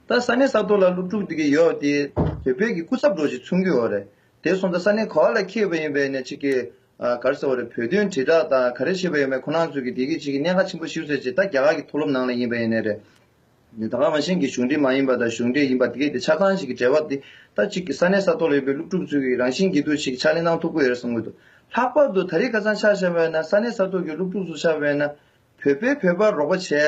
ད་ས་གནས་ས་ཐོག་ལ་སློབ་ཕྲུག་དེ་གའི་ཡོད་དེ་བོད་པའི་གི་སྐུ་ཚབ་འགྲོ་ཅིག་ཚུགས་གི་ཡོད་རེད་དེ་སོང་ད་ས་གནས་ག་བ་ལ་ཁེལ་བ་ཡིན་པས་ནས་ཅིག་གི་གར་ཟེར་བ་རེད་བོད་དོན་དྲིལ་བསྒྲགས་དང་ག་རེ་བྱེད་པ་ཡོད་མེད་ཁོ་ནང་ཚོས་གི་དེ་གའི་ཅིག་གི་གནད་ཁ་ཆེན་པོ་ཞིག་ཟེར་རྗེས་ད་རྒྱ་གར་གི་མཐོ་སློབ་ནང་ལ་ཡིན་པས་ནས་རེད། ནས་དང་བླངས་པ་གཞན་གྱི་གཞུང་འབྲེལ་མ་ཡིན་པ་དང་གཞུང་འབྲེལ་ཡིན་པ་དེ་གའི་དེ་ཆ་ཚང་ཞིག་གི་འབྲེལ་བ་དེ་ལྟར་གཅིག་གིས་ས་གནས་ས་ཐོག་ལ་ཡོད་པའི་སློབ་ཕྲུག་ཚོའི་གི་རང་བཞིན་གྱི་འདུ་ཤེས་ཀྱི་ཕྱག་ལེན་གནང་ཐུབ་ཀྱི་ཡོད་རེད་གསུངས་ཀྱི་འདུག་ལྷག་པར་དུ་ད་རེས་ཁ་སང་ཆགས་བཞག་བས་ན་ས་གནས་ས་ཐོག་གི་སློབ་ཕྲུག་ཚོ་ཆགས་བས་ན་བོད་པས་བོད་པར་རོགས་པ་བྱས་ཏེ་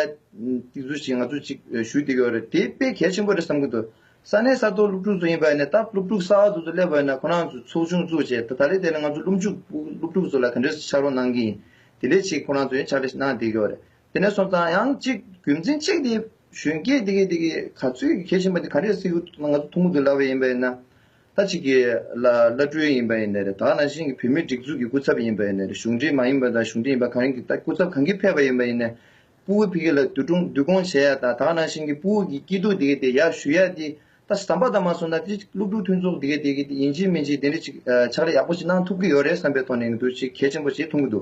ཚུལ་ཞིག་ང་ཚོས་ཅིག་ཞུ་དེ་གའི་ཡོད་རེད་དེ་དཔེ་གལ་ཆེན་པོ་རེད་བསམ་གྱི་འདུག་ས་གནས་ས་ཐོག་སློབ་ཕྲུག་ཚོ་ཡིན་པ་ནས་ད་སློབ་ཕྲུག་ས་འོག་ཏུ་ཚོ་སླེབས་བས་ན་ཁོ་རང་ཚོས་ཚོགས་ཆུང་བཙུགས་རྗེས་ད་ད་རེས་དེ་ལ་ང་ཚོ་སློབ་འཇུག་སློབ་ཕྲུག་ཚོ་ལ་ག་འདྲའི་ཕྱག་རོགས་གནང་གི་ཡིན་དེ་འདྲའི་ཆེད་ཁོ་རང་ཚོས་ཕྱག་ལས་ཤིག་གནང་དེ་གའི་ཡོད་རེད་དེ་ནས་སོང་ཙང་ཡང་གཅིག་རྒྱུ་མཚན་གཅིག་དེ་གཞོན་སྐྱེས་དེ་གས་དེ་གས་ག་ཚོད་གས་བཞིན་པ་དེ་ག་རེ་སི་ཁུ་ང་ཚོ་ཐུང་ངུ་དུ་ལབ་པ་ཡིན་པ་ཡིན་ན་ད་ཅིག་གི་ལ་བླ་སྤྲུལ་ཡིན་པ་ཡིན་ནི་རེད་ད་ནང་བཞིན་གི་བུད་མེད་སྒྲིག་འཛུགས་ཀྱི་སྐུ་ཚབ་ཡིན་པ་ཡིན་ནི་རེད་གཞུང་འབྲེལ་མ་ཡིན་པ་དང་གཞུང་འབྲེལ་ཡིན་པ་གང་ཡིན་གྱི་ད་སྐུ་ཚབ་གང་གིས་ཕེབས་པ་ཡིན་པ་ཡིན་ནི་སྤུ་བོ་ཕི་གེ་ལ་བསྡུ་སྒྲུང་བསྡུ་སྐོང་བྱེད་ཡ་ད་ད་ནང་བཞིན་གྱི་སྤུ་བོ་གི་སྐྱིད་སྡུག་དེ་གས་དེ་ཡ་ཞུ་ཡ་དེ་ད་ཟམ་པ་ད་མ་སོང་ན་དེ་ཅིག་སློབ་ཕྲུག་མཐུན་ཚོགས་དེ་གས་དེ་གས་དེ་ཡིན་གཅིག་མིན་གཅིག་དེ་འདྲ་ཅིག་ཕྱག་ལས་ཡག་པོ་ཅིག་གནང་ཐུབ་ཀྱི་ཡོད་རེད་བསམ་པའི་ཐོག་ནས་འདུག་ཅིག་གལ་ཆེན་པོ་ཞིག་ཐུང་ངུ་དུ།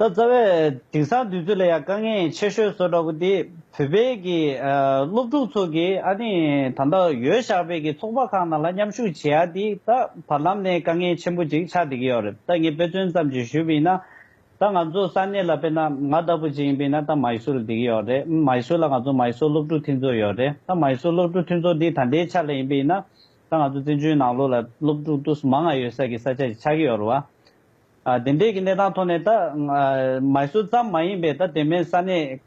ད་རྩ་བའི་དེང་སང་དུས་ཚོད་ལ་ཡང་དཀའ་ངལ་ཆེ་ཤོས་བཟོ་འདྲ་བོ་དེ་བོད་པའི་གི་སློབ་ཕྲུག་ཚོ་གི་ཨ་ནི་ད་ལྟ་ཡོད་བཞག་པའི་གི་ཚོགས་པ་ཁག་ནང་ལ་མཉམ་ཞུགས་བྱེད་ཡ་དེ་ད་བར་ལམ་ནས་དཀའ་ངལ་ཆེན་པོ་ཅིག་ཆགས་བསྡད་ཀྱི་ཡོད་རེད་ད་ངས་དཔེ་མཚོན་ཙམ་ཅིག་ཞུས་པ་ཡིན་ན། ད་ང་ཚོ་ས་གནས་ལ་དཔེར་ན་ང་ལྟ་བུ་ཅིག་ཡིན་པ་ཡིན་ན་ད་མཱི་སུ་རུ་བསྡད་ཀྱི་ཡོད་རེད་མཱི་སུ་ལ་ང་ཚོ་མཱི་སུ་སློབ་ཕྲུག་མཐུན་ཚོགས་ཡོད་རེད་ད་མཱི་སུ་སློབ་ཕྲུག་མཐུན་ཚོགས་དེ་ད་ལྟའི་ཆ་ལ་ཡིན་པ་ཡིན་ན་ད་ང་ཚོ་བཙན་བྱོལ་ནང་ལོགས་ལ་སློབ་ཕྲུག་ཏུ་སུ་མང་ང་ཡོད་ས་གི་ས་ཆ་ཅིག་ཆགས་ཀྱི་ཡོད་རེད་བ། དེ་འབྲེལ་གྱི་གནས་སྟངས་ཐོག་ནས་ད། མཱི་སུར་ཙམ་མ་ཡིན་པའི་ད་དེ་མིན་ས་གནས་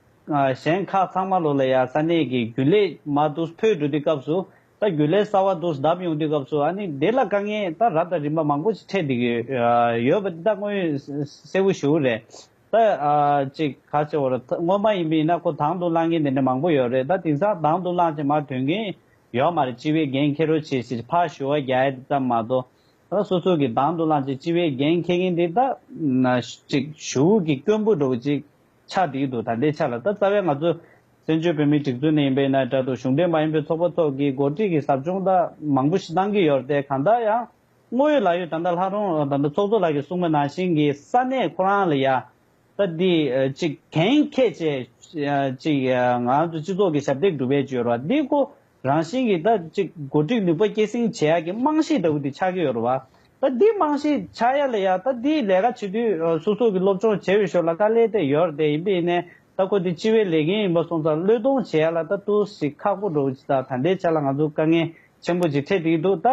གཞན་ཁག་ཚང་མ་ལོ་ལ་ཡང་ས་གནས་ཀྱི་རྒྱུན་ལས་མ་དུས་འཕོས་འགྲོ་དུས་སྐབས་སུ་ད་རྒྱུན་ལས་གསར་བ་དུས་བདམས་ཡོང་དུས་སྐབས་སུ་ཨ་ནི་དེ་ལ་དཀའ་ངལ་ད་རབ་དང་རིམ་པ་མང་པོ་ཞིག་འཕྲད་འདུག་གི་ཡོད་པ་འདི་ད་དངོས་ཡོད་གསལ་བོ་ཞུ་རེད། ད་ཅིག་ག་ཅིག་བོར་སྔོན་མ་ཡིན་པའི་ན་ཁོ་དང་དུ་བླངས་མཁན་དེ་འདྲ་མང་པོ་ཡོད་རེད་ད་དེང་སང་དང་དུ་བླངས་ཅིག་མ་ཐོན་མཁན་ཡོད་མ་རེད་སྤྱི་བའི་འགན་ཁྱེར་རོགས་བྱེད་ཞེས་ཕར་ཞུ་བ་རྒྱ་ཡལ་དེ་ཙམ་མ་གཏོགས་ད་སོ་སོ་གི་དང་དུ་བླངས་ཅིག་སྤྱི་བའི་རྒྱན་འཁྱེར་མཁན་དེ་ད་ན་ཅིག་ཞུ་བོད་ཀྱི་སྐྱོན་འབུ་འགྲོ་བོ་ཅིག་ཆགས་བསྡད་ཀྱི་འདུག་ད་ལྟའི་ཆ་ལ་ད་རྩ་བའི་ང་ཚོ་བཙན་བྱོལ་བོད་མིའི་སྒྲིག་འཛུགས་ནས་ཡིན་པའི་ཡིན་ན་དྲ་དུ་གཞུང་འབྲེལ་མ་ཡིན་པའི་ཚོགས་པ་སོགས་ཀྱིས་འགོ་ཁྲིད་ཀྱི་ཟབ་སྦྱོང་ད་མང་པོ་ཞིག་གཏང་གི་ཡོད་རེད་དེ་གང་ལྟར་ཡང་དངོས་ཡོད་ལག་ཡོད་ད་ལྟ་ལྷག་རུང་ད་ཚོགས་གཙོ་ལགས་ཀྱི་གསུང་མ་ནང་བཞིན་གྱི་ས་གནས་ཁོ་རང་ལ་ཡང་ད་འདི་ཅིག་གན་ཁྱད་བྱས་ཅིག་ང་ཚོ་སྤྱི་ཚོགས་ཀྱི་ཞབས་སྟེགས་སྒྲུབ་པའི་སྤྱོད་ར་འདི་ཁོ་རང་བཞིན་གྱིས་ད་ཅིག་བགོ་སྒྲིག་ནུས་པ་སྐྱེད་སྲིང་བྱེད་ཡག་གི་རྨང་གཞི་ལྟ་བུ་དེ་ཆགས་ཀྱི་ཡོད་རེད་བ། ད་འདི་རྨང་གཞི་ཆགས་ཡག་ལ་ཡ་ད་འདི་ལས་ཀ་བྱེད་དུས་སོ་སོ་གི་སློབ་སྦྱོང་བྱེད་འོས་ཤོར་ལ་དཀའ་ལས་དེ་ཡོད་རེད་དེ་ཡིན་པས་ནས་ད་ཁོ་འདི་སྤྱི་བའི་ལས་འགན་ཡིན་པ་སོང་ཙང་བློས་གཏོང་བྱེད་ཡག་ལ་ད་ཏུ་ཞིག་ཁག་པོ་འགྲོ་གི་ད་འདའི་ཆ་ལ་ང་ཚོ་དཀའ་ངལ་ཆེན་པོ་ཅིག་འཕྲད་དེ་ཡི་འདུག་ད་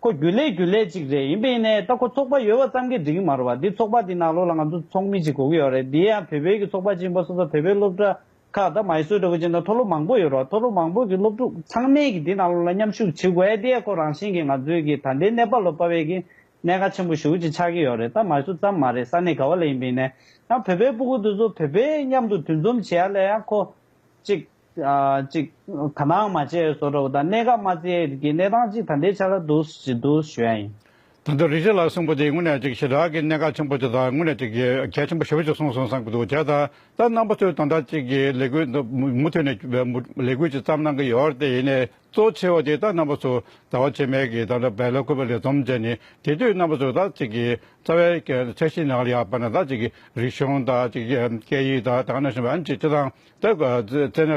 ཁོ་རྒྱུ་ལས་རྒྱུ་ལས་ཅིག་རེད་ཡིན་པས་ནས་ད་ཁོ་ཚོགས་པ་ཡོད་བ་ཙམ་གྱིས་འགྲིག་གི་མ་རེད་བ་འདི་ཚོགས་པ་འདི་ནག་ལོ་ལ་ང་ཚོ་ཚོགས་མི་ཅིག་གོ་གི་ཡོད་རེད་འདི་ཡང་བོད་པའི་གི་ཚོགས་པ་ཅིག་ཡིན་པ་སོང་ཙང་བོད་པའི་སློབ་གྲྭ་ཁག་ད་མ་ཡི་སྲོལ་གྲོགས་གཅིག་དང་མཐོ་སློབ་མང་པོ་ཡོད་རོགས་མཐོ་སློབ་མང་པོ་གི་སློབ་ཕྲུག་ཚང་མས་གི་དེ་ནང་ལོ་ལ་མཉམ་ཞུགས་བྱེད་དགོས་ཨེ་དེ་ཡས་ཁོ་རང་བཞིན་གི་ང་ཚོའི་གི་ད་ལྟའི་གནས་སྤར་ལོ་སྤར་བས་གི་གནད་ཁ་ཆེན་པོ་ཞུགས་ཅིག་ཆགས་གི་ཡོད་རེད་ད་མ་ཡི་སུ་ཙམ་མ་རེད་ས་གནས་ག་བ་ལ་ཡིན་པའི་ནས་ཡང་བོད་པའི་སྤུ་གུ་དུ་ཚོ་བོད་པའི་མཉམ་དུ་དུས་འཛོམས་བྱེད་ཡ་ལས་ཡང་ཁོ་གཅིག་གཅིག་ག་ནའང་མ་བྱས་སོ་གྲོགས་ད་གནད་ཁ་མ་བརྩི་ཡས་གི་གནས་སྟངས་གཅིག་ད་ལྟའི་ཆ་ལ་འདུག་ཞུ་ཡ་ཡིན། དོན་དུ་རིག་བྱེད་ལ་གསུངས་པ་འདིས་དངོས་གནས་ཅིག་ཞི་དྲག་གི་གནད་འགག་ཆེན་པོ་དེ་དག་དངོས་གནས་ཅིག་གལ་ཆེན་པོ་ཞེ་པོ་ཅིག་གསུངས་སོང་བསམ་གྱི་འདུག་དེ་ལྟར་ད་རྣམ་པ་ཚོས་དོན་དག་ཅིག་གི་ལས་འགུལ་འདི་མུ་མཐུད་ནས་ལས་འགུལ་ཅིག་བརྩམས་གནང་གི་ཡོད་དེ་ཡིན་ནས་གཙོ་ཆེ་བ་དེ་ད་རྣམ་པ་ཚོ་ཟླ་བ་ཕྱེད་མའི་གི་ད་ལྟ་བལ་ལོ་ཁུ་བ་ལས་རྩོམ་མཛད་ནས་དེ་དུས་རྣམ་པ་ཚོས་དག་ཅིག་གི་རྩ་བའི་ཚད་གཞི་ནང་ལ་ཡག་པ་ན་དག་ཅིག་གི་རིག་གཞུང་དག་ཅིག་སྐད་ཡིག་དག་དག་ན་ཞིང་བ་ཨན་ཅིག་ཅི་དང། ད་ག་ཚོད་རྩེད་ན་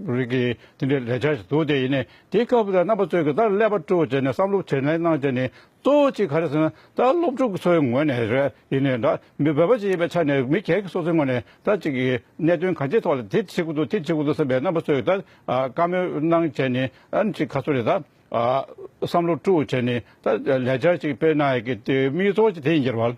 རིགས་ཀྱི་དེ་འདྲའི་ལས་བྱ་ཞིག་འདུག་དེ་ཡིན་ནས་དེའི་སྐབས་ལ་རྣམ་པ་ཚོས་གི་ད་ཀླད་པ་བཀྲུ་བ་བྱས་ནས་བསམ་བློ་བྱེད་ལེན་གནང་བྱས་ནས་གཙོ་བོ་གཅིག་ག་རེ་ཟེར་ན་ད་སློབ་ཕྲུག་ཚོའི་ངོས་ནས་རེད་ཡིན་ནས་འདྲ་མི་བོད་པ་ཞིག་ཡིན་པའི་ཆ་ནས་མི་གེགས་སོ་སོའི་ངོས་ནས་ད་གཅིག་གི་གནད་དོན་གང་ཅིའི་ཐོག་ལ་དེ་བྱེད་དགོས་འདུག་དེ་བྱེད་དགོས་འདུག་བསམ་པའི་རྣམ་པ་ཚོས་གི་ད་བཀའ་མོལ་གནང་བྱས་ནས་ཨ་ནི་གཅིག་ག་ཚོད་རེད་ད་བསམ་བློ་བཀྲུ་བ་བྱས་ནས་ད་ལས་བྱ་ཞིག་སྤེལ་གནང་ཡག་གི་དེ་དམིགས་ཚོགས་ཀྱི་དེ་ཡིན་གྱི་རེད་བ།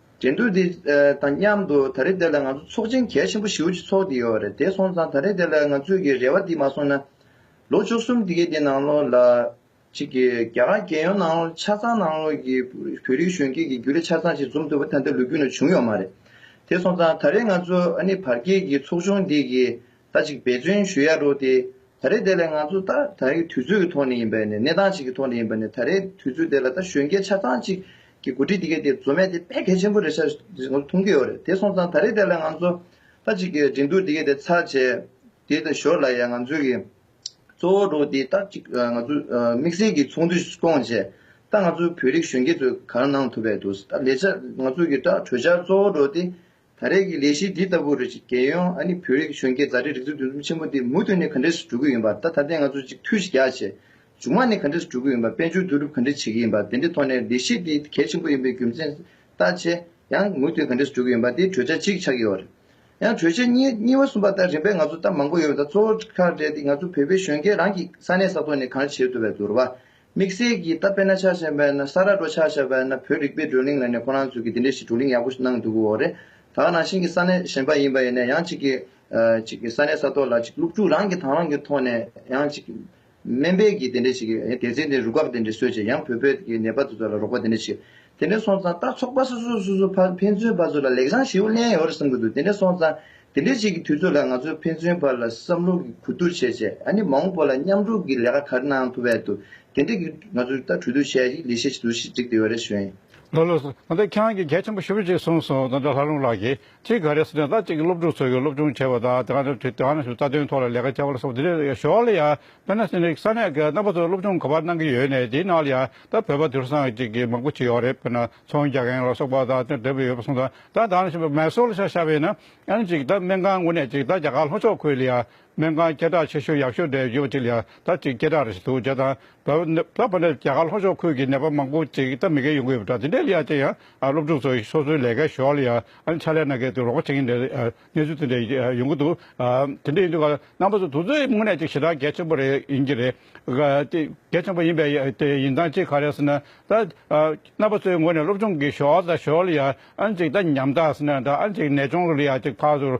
འགྲན་བསྡུར་འདི་དང་མཉམ་དུ་ད་རེས་འདི་ལ་ང་ཚོ་ཚོགས་ཆེན་གལ་ཆེན་པོ་བཞི་བོ་ཅིག་ཚོགས་ཀྱི་ཡོད་རེད་དེ་སོང་ཙང་ད་རེས་འདི་ལ་ང་ཚོས་ཀྱི་རེ་བ་འདི་མ་སོང་ན། ལོ་བཅུ་གསུམ་འདི་གའི་འདི་ནང་ལོགས་ལ། ཅིག་གི་རྒྱ་གར་རྒྱལ་ཡོངས་ནང་ལོགས་ཆ་ཚང་ནང་ལོགས་ཀྱི་བོད་རིགས་གཞོན་སྐྱེས་ཀྱི་རྒྱུ་ལས་ཆ་ཚང་ཞིག་འཛོམས་ཐུབ་པ་ད་ལྟའི་ལོ་རྒྱུས་ནང་བྱུང་ཡོད་མ་རེད། དེ་སོང་ཙང་ད་རེས་ང་ཚོ་ཨ་ནི་བར་བརྒལ་གྱི་ཚོགས་ཆུང་འདི་གི་ད་གཅིག་འབད་བརྩོན་ཞུ་ཡག་འགྲོ་སྟེ། ད་རེས་དེ་ལས་ང་ཚོ་ད་ད་རེའི་དུས་ཚོད་ཀྱི་ཐོག་ནས་ཡིན་པས་ནས་གནས་སྟངས་ཤིག་གི་ཐོག་ནས་ཡིན་པ་ནས་ད་རེའི་དུས་ཚོད་དེ་ལ་ད་གཞོན་སྐྱེས་ཆ་ཚང་གཅིག་གི་འགོ་ཁྲིད་དེ་གས་དེ་བཟོ་མེད་དེ་ཕན་གལ་ཆེན་པོ་རེད་ཤག་ང་ཚོ་མཐོང་གི་ཡོད་རེད་དེ་སོང་ཙང་ད་རེས་དེ་ལ་ང་ཚོ་ད་གཅིག་གི་འགྲན་བསྡུར་དེ་གས་དེ་ཚར་བྱས་དེ་ད་ཞོར་ལ་ཡང་ང་ཚོའི་གི་གཙོ་བོ་འགྲོ་སྟེ་ད་གཅིག་ང་ཚོ་དམིགས་བསལ་གྱི་ཚོགས་འདུ་སྐོང་བྱས་ད་ང་ཚོའི་བོད་རིགས་གཞོན་སྐྱེས་ཚོས་གང་གནང་ཐུབ་པས་འདུག་ད་ལས་ཆ་ང་ཚོའི་གི་ད་གྲོས་འཆར་གཙོ་བོ་འགྲོ་སྟེ་ད་རེས་ཀྱི་ལས་གཞི་འདི་ལྟ་བུ་རུ་ཅིག་རྒྱལ་ཡོངས་ཨ་ནི་བོད་རིགས་གཞོན་སྐྱེས་མཛའ་འབྲེལ་སྒྲིག་འཛུགས་འདུ་འཛོམས་ཆེན་མོ་འདི་མུ་མཐུད་ནས་ག་འདྲེ་སུ་གྲུ་གི་ཡིན་པ་ད་ད་ལྟའི་ང་ཚོ་ཅིག་ཐུགས་གཞི་རྒྱ་ཆེ། མཇུག་མ་ནས་ག་འདྲེ་སུ་གྲུ་གི་ཡིན་པ་དཔལ་འབྱོར་བསྡུ་རུབ་ག་འདྲེ་བྱེད་ཀྱི་ཡིན་པ་དེ་འདྲེ་ཐོག་ནས་ལས་གཞི་འདི་གལ་ཆེན་པོ་ཡིན་པའི་རྒྱུ་མཚན་ལྟ་ཆེ། ཡང་མུ་མཐུད་ག་འདྲེ་སུ་གྲུ་གི་ཡིན་པ་དེ་གྲོས་འཆར་གཅིག་ཆགས་ཀྱི་ཡོད་རེད། ཡང་གྲོས་འཆར་གཉིས་གཉིས་བ་གསུམ་པ་ལྟར་རིམ་པས་ང་ཚོ་ལྟ་མང་པོ་ཡོད་པ་དང་གཙོ་བོ་ཁག་འདྲེ་འདི་ང་ཚོ་བོད་པའི་གཞོན་སྐྱེས་རང་གི་ས་གནས་ས་ཐོག་ནས་གང་བྱེད་ཐུབ་པའི་བསྡུར་བ་དམིགས་བསལ་གྱིས་ད་པེ་ན་ཆ་ཞེས་པའི་ན་ས་ར་འགྲོ་ཆ་ཞེས་པའི་ན་བོད་རིག་པའི་བགྲོ་གླེང་ལ་ནས་ཁོ་རང་ཚོས་ཀྱིས་འདི་འདྲའི་ཞིག་བགྲོ་གླེང་ཡག་པོ་ཞིག་གནང་འདུག་གོ་རེད་ད་ནང་བཞིན་གྱི་ས་གནས་གཞན་པ་ཡིན་པ་ཡིན་ནས་ཡང་གཅིག་གིས་གཅིག་གིས་ས་གནས་ས་ཐོག་ལ་གཅིག་སློབ་ཕྲུག་རང་གི་དང་རང་གི་ཐོག་ནས་ཡང་གཅིག་སྨན་པས་ཀྱིས་འདི་འདྲའི་ཞིག་གིས་དེ་ཚེ་འདི་རུ་དགག་འདི་འདྲའི་སྲོལ་ཆེ་ཡང་བོད་པའི་གི་ནད་པ་དེ་ཚོ་ལ་རོགས་པ་འདི་འདྲའི་ཞིག་དེ་འདྲའི་སོང་ཙང་རྟགས་ཚོགས་པ་སོ་སོས་སོ་སོ་ཕར་ཕན་ཚུན་བར་ཚོ་ལ་ལེགས་བྱང་ཞེའུ་གླན་ཡོད་རེད་བསམ་གི་འདུག་དེ་འདྲའི་སོང་ཙང་དེ་འདྲའི་ཞིག་གི་དུས་ཚོད་ལ་ང་ཚོས་ཕན་ཚུན་བར་ལ་བསམ་བློ་གི་གོ་བསྡུར་བྱས་བྱས་ཨ་ནི་མ་འོངས་པ་ལ་མཉམ་རུབ་གི་ལས་ཀ་ག་རེ་གནང་ཐུབ་བས་འདུག་དེ་འདྲའི་གི་ང་ཚོས་ད་གྲོས་བསྡུར་བྱས་ཤིག་ལས་བྱེད་ཆེ་དུ་ཞིག་བསྒྲིགས་དེ་བས་རེ་བྱོས། ལོ་ལོ། ད་ཁྱེད་རང་གི་གལ་ཆེན་པོ་ཞུ་རྒྱུ་ཞིག་གསུངས་སོང་ད་ལྷ་ལུང་ལགས་ཀྱིས་ཁྱེད་ག་རེ་སོ་དེ་ད་ཅིག་སློབ་ཕྲུག་ཚོ་གི་སློབ་སྦྱོང་བྱེད་པ་དང་དེ་ག་ནས་དེ་ག་ནས་ཞུ་རྩ་དོན་ཐོག་ལ་ལས་ཀ་བྱ་བ་ལ་སོགས་དེ་འདྲས་ཞོར་ལ་ཡང་བོད་ནང་སེ་རིག་ས་གནས་ཀྱི་རྣམ་པ་ཚོ་སློབ་སྦྱོང་ག་པར་གནང་གི་ཡོད་ནས་དེའི་ནང་ལ་ཡང་ད་བོད་པ་དུད་ཚང་ཅིག་གི་མང་པོ་ཆེ་ཡོད་རེད་བོད་ནང་ཚོང་རྒྱག་མཁན་ལ་སོགས་པ་དང་དེ་འདྲས་པ་ཡོད་པ་སོང་ད་ད་ད་ནས་ཞུ་མེ་སོ་ལ་ཤ་ཤ་བས་ན་ཨང་ཅིག་ད་སྨན་ཁང་ངོ་ནས་ཅིག་ད་རྒྱ་གར་ལྷོ་ཕྱོགས་ཁུལ་ལ་ཡང་སྨན་ཁང་སྐད་གྲགས་ཆེ་ཤོས་ཡག་ཤོས་རེ་ཡོད་པ་གཅིག་ལ་ད་གཅིག་སྐད་གྲགས་རེ་ཞིག་འདུག་བྱས་ཙང། ལྷག་པར་ནི་རྒྱ་གར་ལྷོ་ཕྱོགས་ཁུལ་གྱི་ནད་པ་མང་པོ་ཅིག་སྟབས་མི་འགལ་ཡོང་གི་ཡོད་པ་འདྲ་དེ་འདྲའི་ལེའ་ཅན་ཡང་སློབ་ཕྲུག་ཚོ་སོ་སོའི་ལས་ཀའི་ཞོར་ལ་ཡང་ཕྱག་ལས་གནང་མཁན་དུ་རོགས་པ་བྱེད་མཁན་རེ་གནས་ཚུལ་དེ་འདྲ་ཡོང་གི་འདུག་དེ་འདྲ་ཡིན་དུས་རྣམ་པ་ཚོ་དུས་ཚོད་དངོས་གནས་ཅིག་ཞེ་དྲག་གལ་ཆེན་པོ་རེ་ཡིན་གྱི་རེད། གལ་ཆེན་པོ་ཡིན་པའི་དེ་ཡིན་ཙང་ཅིག་ག་རེ་ཟེར་ན་ད་རྣམ་པ་ཚོའི་ངོས་ནས་སློབ་སྦྱོང་གི་ཞོར་ལ་ཞོར་ལ་ཡང་ཅིག་ད་ཉམས་ཐག་ཟེར་ན་འདྲ་ཅིག་ནད་གཅོང་ལེའ་ཅིག་ཕར་ཚུར་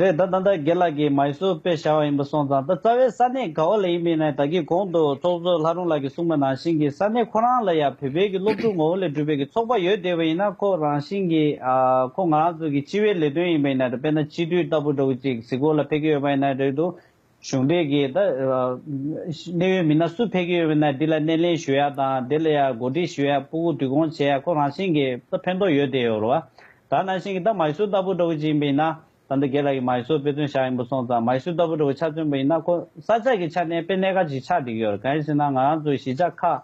རེད་ད་ད་ལྟ་དགེ་ལགས་ཀྱིས་མ་ཡི་སུ་དཔེ་བཞག་བ་ཡིན་པ་སོང་ཙང་ད་རྩ་བའི་ས་གནས་ག་བ་ལ་ཡིན་མིན་ནས་ད་གི་གོང་དུ་ཚོགས་གཙོ་ལྷ་རུང་ལགས་ཀྱིས་གསུངས་པ་ནང་བཞིན་གྱི་ས་གནས་ཁོ་རང་ལ་ཡང་བོད་པའི་གི་སློབ་ཕྲུག་ངོ་བོ་ལས་གྲུབ་པའི་གི་ཚོགས་པ་ཡོད་བསྡད་པ་ཡིན་ན་ཁོ་རང་བཞིན་གྱི་ཁོ་ང་རང་ཚོ་གི་སྤྱི་བའི་ལས་དོན་ཡིན་པ་ཡིན་ན་རེད་དཔེར་ན་སྤྱི་འཐུས་ལྟ་བུ་འདྲ་བོ་ཅིག་གཟིགས་སྐོར་ལ་ཕེབས་ཀྱི་ཡོད་པ་ཡིན་ན་རེད་དོ། གཞུང་འབྲེལ་གྱི་གནད་ཡོད་མི་སྣ་སུ་ཕེབས་ཀྱི་ཡོད་མེད་ནི་འདི་ལ་སྣེ་ལེན་ཞུ་ཡ་དང་དེ་ལ་གོ་སྒྲིག་ཞུ་ཡ་པུ་གུ་བསྡུ་སྐོང་བྱེད་ཡ་ཁོ་རང་བཞིན་གྱི་ད་ཕན་ཐོགས་ཡོད་དེ་ཡོད་རོ། ད་ནང་བཞིན་གྱི་ད་མཱི་སུར་ལྟ་བུ་འདྲ་བོ་ཅིག་ཡིན་པ་ཡིན་ན། ད་འདི་གེ་ལ་ཡི་མཱི་སུར་དཔེ་མཚོན་བཞག་ཡིན་པ་སོང་ཙང་མཱི་སུར་ལྟ་བུ་འདྲ་བོ་ཆགས་ཚུན་པ་ཡིན་ན་ཁོ་ས་ཆ་གྱི་ཆ་ནས་དཔེ་གནད་འགའ་ཅིག་ཆགས་འགྲིག་ཡོད་རེད་གང་ཡིན་ཟེར་ན་ང་རང་ཚོའི་གཞིས་ཆགས་ཁག་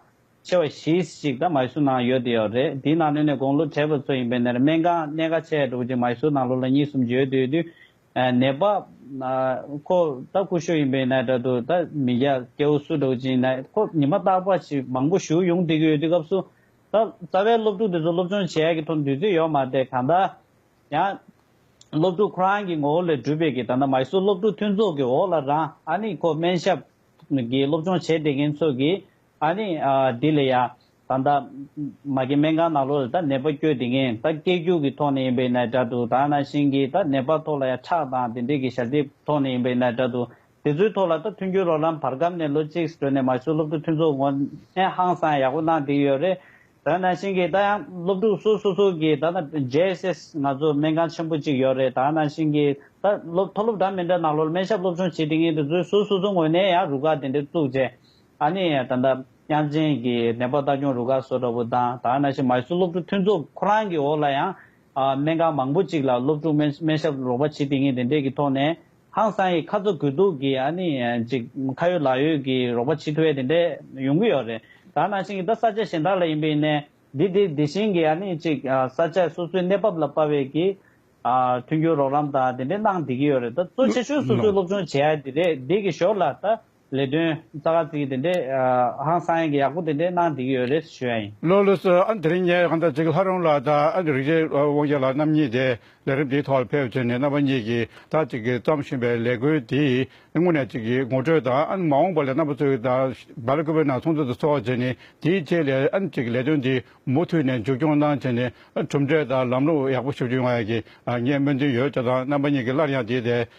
ཆེ་བ་བཞི་ཞིག་ད་མཱི་སུར་ནང་ཡོད་དེ་ཡོད་རེད་དེའི་ནང་ནས་ནས་དགོང་ལོ་གྲལ་བ་ཚོ་ཡིན་པའི་ནས་རེ་སྨན་ཁང་གནད་འགའ་ཆགས་ཡ་འདྲ་བོ་ཅིག་མཱི་སུར་ནང་ལོ་ལ་གཉིས་གསུམ་བརྗོད་དུས་དུས་ནད་པ། ཁོ་ད་སྐུ་ཞོགས་ཡིན་པའི་ན་དྲ་དུ་ད་མི་རྒྱ་སྐྱེ་བོ་སུ་འགྲོགས་ཅིང་ན་ཁོ་ཉི་མ་རྟག་པ་ཞིག་མང་པོ་བཞུགས་ཡོང་སྡིག་ཡོད་དུས་སྐབས་སུ་ད་རྩ་བའི་སློབ་ཕྲུག་དེ་ཚོ་སློབ་སྦྱོང་བྱེད་ཡག་གི་ཐོག་འདུས་ཚོད་ཡོག་མ་སྟེ་གང་ལྟར་ཡང། སློབ་ཕྲུག་ཁོ་རང་གི་ངོ་བོ་ལས་གྲུབ་པའི་གི་ད་ན་མ་ཧི་སུ་སློབ་ཕྲུག་མཐུན་ཚོགས་ཀི་འོག་ལ་རང་ཨ་ནི་ཁོ་སྨན་ཞབས་ཀི་སློབ་སྦྱོང་བྱེད་བསྡད་མཁན་ཚོ་གི་ཨ་ནི། དེ་ལས་ཡ། ད་ལྟ། མ་གི་སྨན་ཁང་ནང་ལོགས་ལ་ད་ནད་པ་བསྐྱོད་དེ་ངན་ད་སྐད་རྒྱུག་གི་ཐོག་ནས་ཡིན་པའི་ནད་འདྲ་འདུག་ད་ཨ་ན་ཤིང་གིས་ད་ནད་པ་ཐོག་ལ་ཡ་ཁྲག་དང་དེ་འདྲས་གི་ཞབས་རྗེས་ཐོག་ནས་ཡིན་པའི་ནད་འདྲ་འདུག་དེ་ཚོའི་ཐོག་ལ་ད་མཐུན་འགྱུར་རོགས་ལམ་བར་སྐབས་ནས་ལོ་གཅིག་སྤྲོད་ནས་མ་ཞུ་སློབ་ཕྲུག་མཐུན་ཚོགས་ངོ་ནས་ཧང་སང་ཡག་པོ་གནང་བསྡིགས་ཡོད་རེད་ད་ཨ་ན་ཤིང་གིས་ད་ཡང་སློབ་ཕྲུག་སུ་སུ་སུ་གིས་ད་ན JSS ང་ཚོ་སྨན་ཁང་ཆེན་པོ་གཅིག་ཡོད་རེད་ད་ཨ་ན་ཤིང་གིས་ད་སློབ་མཐོ་སློབ་འདྲ་མི་འདྲ་ནང་ལོགས་ལ་སྨན་ཞབས་སློབ་ཆུང་བྱེད་དེ་ངན་དེ་ཚོའི་སུ་སུ་སུ་ངོ་ནས་ཡ་རུ་ཁག་དེ་འདྲས་བཙུགས་རྗེས་ཨ་ནེ་ཡང་ད་ལྟ་དབྱངས་ཅན་གྱི་ནེ་པ་ལྟ་སྐྱོང་རུ་ཁག་སོགས་འདྲ་བོ་དང་དར་ནཱ་ཤི་མཱི་སུ་སློབ་ཕྲུག་མཐུན་ཚོགས་ཁོ་རང་གི་འོག་ལ་ཡང་སྨན་ཁང་མང་པོ་གཅིག་ལ་སློབ་ཕྲུག་སྨན་ཞབས་རོགས་པ་བྱེད་དེ་ངས་དེ་འབྲེལ་གྱི་ཐོག་ནས་ཧང་སང་ཡི་ཁ་ཚ་དགོས་གཏུགས་ཀྱི་ཨ་ནེ་ཡང་ཅིག་ཁ་ཡོད་ལག་ཡོད་ཀྱི་རོགས་པ་བྱེད་ཐུབ་ཡ་དེ་འདྲས་ཡོང་གི་ཡོད་རེད་དར་ནཱ་ཤི་གི་ད་ས་ཆ་གཞན་དག་ལ་ཡིན་པའི་ནས་འདི་དེ་དེ་བཞིན་གྱི་ཨ་ནེ་ཅིག་ས་ཆ་སོ་སོའི་གནས་བབ་ལ་དཔར་བའི་གྱི་མཐུན་འགྱུར་རོགས་རམ་དང་དེ་འདྲས་གནང་བསྡད་ཀྱི་ཡོད་རེད་ད་གཙོ་ཆེ་ཤོས་སོ་སོའི་སློབ་ཆུང་བྱེད་ཡ་དེ་རེད་འདི་གི་ཞོར་ལ་ད། ལས་དོན་རྩ་ཁག་གཅིག་དེ་འདྲས་ཧང་སངས་ཀྱི་ཡག་པོ་དེ་འདྲས་གནང་བསྡད་ཀྱི་ཡོད་རེད་ཞུ་ཡ་ཡིན། ལོ་ལོ་སུ་ཨ་འདིར་ཉེ་གནྟ་གཅིག་ལྷ་རོང་ལགས་དང་ཨ་རིག་རྗེས་དབང་རྒྱ་ལགས་རྣམ་གཉིས་དེ་ལས་རིམ་འདིའི་ཐོག་ལ་ཕེབས་བྱས་ནས་རྣམ་པ་གཉིས་ཀྱིས་ད་ཅིག་གིས་བརྩམས་བཞིན་པའི་ལས་འགུལ་འདི་དངོས་ནས་ཅིག་གིས་ངོ་སྤྲོད་དང་ཨ་མ་འོངས་པ་ལས་རྣམ་པ་ཚོའི་དང་བར་སྐུ་བོད་ནང་ཚོང་དོན་དུ་འཚོ་བ་བྱས་ནས་དེའི་རྗེས་ལས་ཨ་ཅིག་གིས་ལས་དོན་འདི་མུ་མཐུད་ནས་མཇུག་སྐྱོང་གནང་བྱས་ནས་གྲུབ་འབྲས་དང་ལམ་ལུགས་ཡག་པོ་ཞུ་རྒྱུ་ང་ཡག་གིས་ངས་སྨོན་འདུན་ཡོད་ཅག་དང་རྣམ་པ་གཉིས་ཀྱིས་སླར་ཡང་དེའི་ཐད